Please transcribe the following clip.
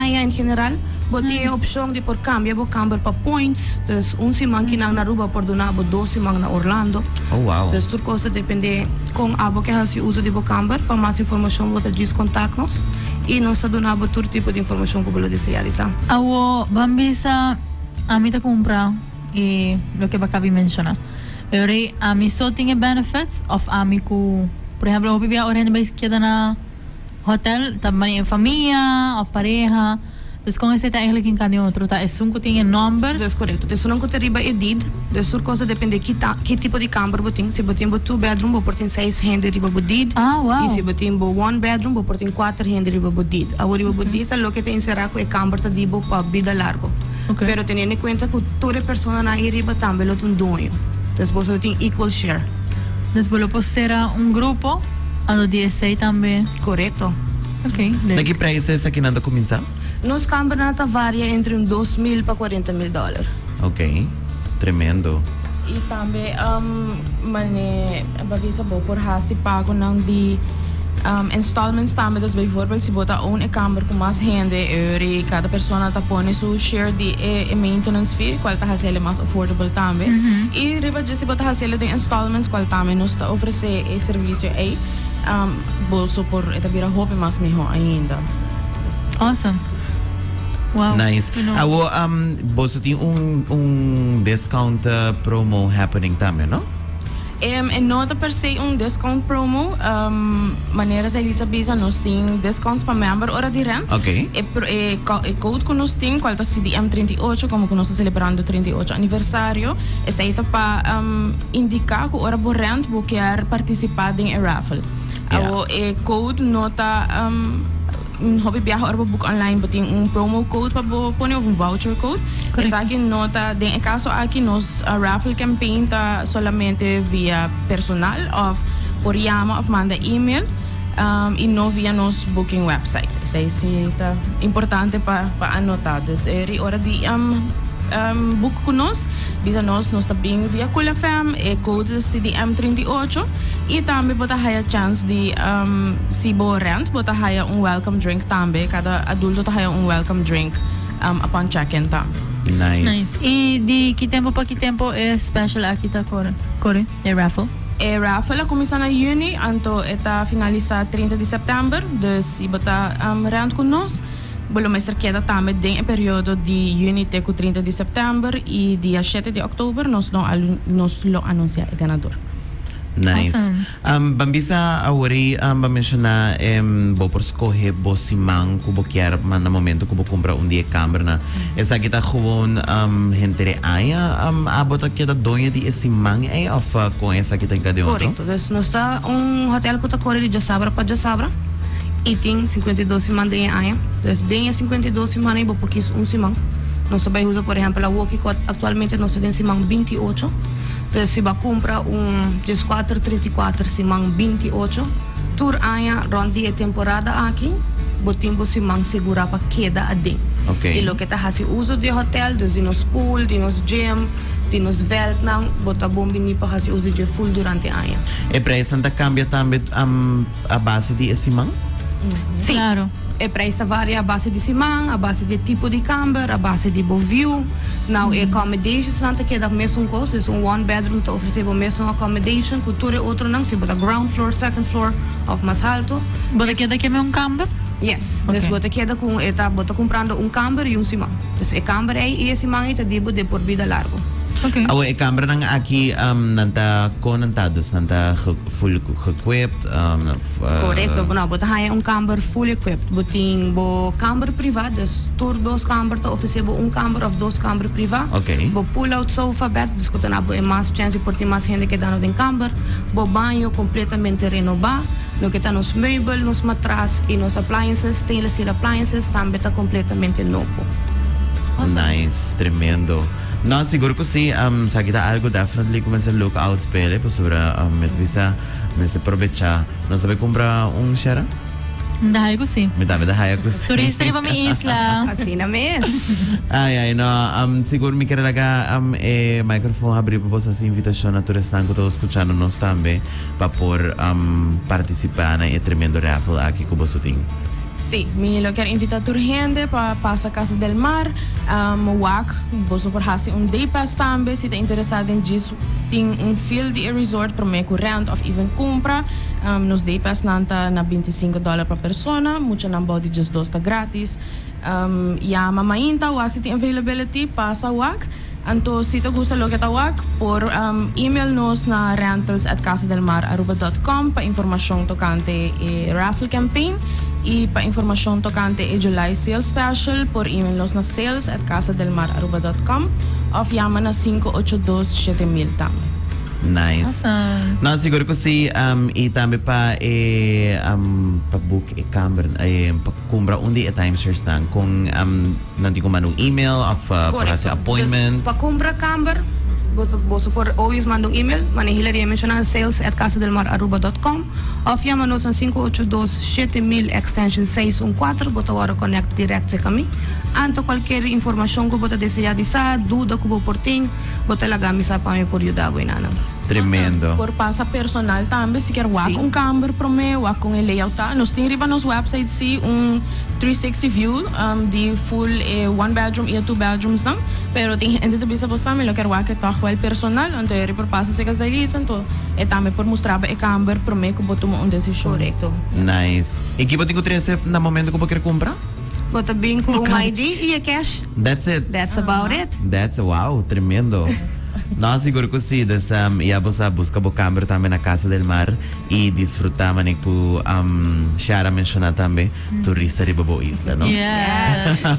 Maya en general, bo tin e opcion di por cambia bo camber pa points, dus un siman ki nan Aruba por duna bo dos siman na Orlando. Oh wow. Dus tur cos ta depende con abo ke haci uso di bo camber. Pa mas informacion bo ta djis contact nos y nos ta duna bo tur tipo di informacion cu bo lo desea di sa. Awo ban bisa ami ta cumpra y loke Bacavi menciona. Pero ami so tin e benefits of ami cu, por ejemplo, hopi bia ora hende bai keda na. Hotel ta mai e famia of pareha. Dus con ese ta eigenlic tin can di otro ta esun cu tin e nomber. Yes corecto. Ta esunan cu ta riba e deed. Des tur cos ta depende ki ta ki tipo di camber bo tin. Si bo tin bo two bedroom bo por tin seis hende riba bo deed. Ah wow. Y si bo tin bo one bedroom bo por tin cuater hende riba bo deed. Awo riba bo deed ta loke ta encerra cu e camber ta di bo pa bida largo. Pero teniendo en cuenta cu tur e personanan ahi riba tambe lo ta un duoño. Entonces boso lo tin equal share. Entonces bo lo por cera un grupo a lo di esey tambe. Correcto. Ok, leuk. Na ki prijs esaki nan ta cuminsa? Nos cambernan ta varia entre un dos mil pa cuarenta mil dollar. Ok, tremendo. Y tambe mane. Bo a bisa bo por hasi pagonan di installments tambe. Dus bijvoorbeeld si bo ta own e kamber ku mas hende eur i kada persona ta pone su share di e maintenance fee kual ta hasi ala mas affordable tambe. I riba dje si bo ta hasi ala den installments kual tambe nos ta ofresé e servisio ei bo so por e ta bira hopi mas mihó ainda. Dus. Awesome. Wow. Nice. Su no. Awo boso tin un un discount promo happening tambe no? E no ta per se un discount promo, manera Zailitza bisa nos tin discounts pa member ora di rent. E code cu nos tin cual ta CDM trinta i ocho como cu nos ta celebrando trinta i ocho aniversario esai ta pa indica cu ora bo rent bo kier participa den e raffle. Awo e code no ta. Un hopi biaha ora bo boek online bo tin un promo code pa bo pone of un voucher code. Correcto. Esaki no ta, den e caso aki nos uh, raffle campaign ta solamente via personal of por yama of manda email um, y no via nos booking website. Esai si ta importante pa, pa anota. Dus eh, ri ora di um, um, boek cu nos, bisa nos, nos ta bring via Cool FM, e code is TDM trinta i ocho. Y tambe bo ta haya chance di si bo rent bo ta haya un welcome drink tambe cada adulto ta haya un welcome drink upon check in ta. Nice. Y di ki tempo pa ki tempo e special aki ta core, e raffle? E raffle a cuminsa na juni anto e ta finalisa trinta di september, dus si bo ta rent cu nos bo lo mester keda tambe den e periodo di juni te cu trinta di september y dia shete di oktober nos lo a anuncia e ganador. Nice. Awesome. Ban bisa awor ei ban menshona e bo por skohe bo siman ku bo kier manda momento ku bo kumpra un di e kamernan. Esaki ta gewoon henter e aña abo ta keda doño di e siman ei of kon esaki ta enkade'e otro? Korekto. Dus nos ta un hotel ku ta kore di djosabra pa djosabra i tin sinkuenta i dos siman den e aña. Dus den e sinkuenta i dos siman ei bo por kis un siman. Nos ta bai usa por ehèmpel awoki ku aktualmente nos ta den siman binti i ocho. Pe si bo a kumpra un dieskuater trinta i kuater siman binti i ocho, tur aña rònt di e temporada aki bo tin bo siman segurá pa keda aden. I loke ta hasi uso di e hotèl, dus di nos pool, di nos gym, di nos vèldnan, bo ta bon biní pa hasi uso di dje ful durante aña. E preisnan ta kambia tambe. A base di e siman? Sí, e prijs ta varia a base di siman, a base di e tipo di kamber, a base di bo view. Now e accomodationsnan ta keda mesun kos, dus un one bedroom ta ofresé bo mesun accommodation ku tur e otronan, si bo ta ground floor, second floor òf mas haltu. Bo ta keda ke me un kamber? Yes, dus bo ta keda ku un, e ta, bo ta kumprando un kamber i un siman. Dus e kamber ei i e siman ei ta di bo de por bida largu. Awe e kambernan aki, nan ta, kon nan ta? Dus nan ta Full equipped of. Korekto, no bo ta haña un kamber full equipped. Bo tin bo kamber priva, dus tur dos kamber ta ofresé bo un kamber òf dos kamber priva. Bo pull out sofa bed, dus ku ta na bo e mas chansi por tin mas hende kedando den kamber. Bo baño kompletamente renobá. Loke ta nos meubel, nos matras i nos appliances, stainless steel appliances, tambe ta kompletamente nobo. Nice, tremendo. No, sigur cu si. Um, esaki ta algo definitely cu mester look out pa ele, pasobra um, mi ta bisa, mester probecha. Nos ta bay cumpra un, Shera? Mi ta haya cu si. Mi tambe ta haya cu si. Turista riba mi isla. Asina mes. Ay, ay, no. Um, sigur mi ker laga um, e microphone habri pa bos haci invitacion na tur esnan cu ta escuchando nos tambe. pa por participa nan e tremendo raffle aki cu boso tin. Sí, mi lo kier invita tur hende pa pasa Casa del Mar wak. Boso por haci un day pass tambe. Si ta interesa den djis, tin un feel di e resort prome cu rent of even cumpra. Nos day pass nan ta na binti sinku dollar pa persona, muchanan bao di diesdos ta gratis. Yama mainta wak si tin availability, pasa wak. Anto si ta gusta loke ta wak por email nos na rentals@casadelmararuba.com pa informacion tocante e raffle campaign y pa informacion tocante e July sale special por email nos na sales@casadelmararuba.com of yama na sinku ocho dos shete mil tambe. Nice. No, sigur cu si. Y tambe pa e pa book e camber, pa cumbra un di e timesharesnan con. Nan tin cu manda un email of por haci appointment. Correcto. Pa cumpra camber boso por o bios manda un email, mane Hilary a menciona, sales at casadelmararuba dot com, of yama nos na sinku ocho dos shete mil extension seis un kuater, bo ta worde connect direct cerca mi. Anto cualkier informacion cu bo ta desea di sa, duda cu bo por tin, bo ta lagami sa pa mi por yuda bo enanan. Tremendo. Por pasa personal tambe, si kier wak un camber prome, wak con e layout ta. Nos tin riba nos website si un three sixty view. di full e one bedroom y e two bedrooms nan pero tin hende ta bisa bo sa mi lo ker wak e tog wel personal anto e riba pasa seca Zailis anto e tambe por mustra bo e camber prome cu bo tuma un decision. Correcto. Nice. Y kibo tin cu trece na momento cu bo ker cumpra? Bo ta bin cu un ID y e cash. That's it. That's about it. That's wow tremendo. No sigur cu si desam ya bo sa busca bo camber tambe na Casa del Mar. Y disfruta manera cu Shara menciona tambe turista riba bo isla no.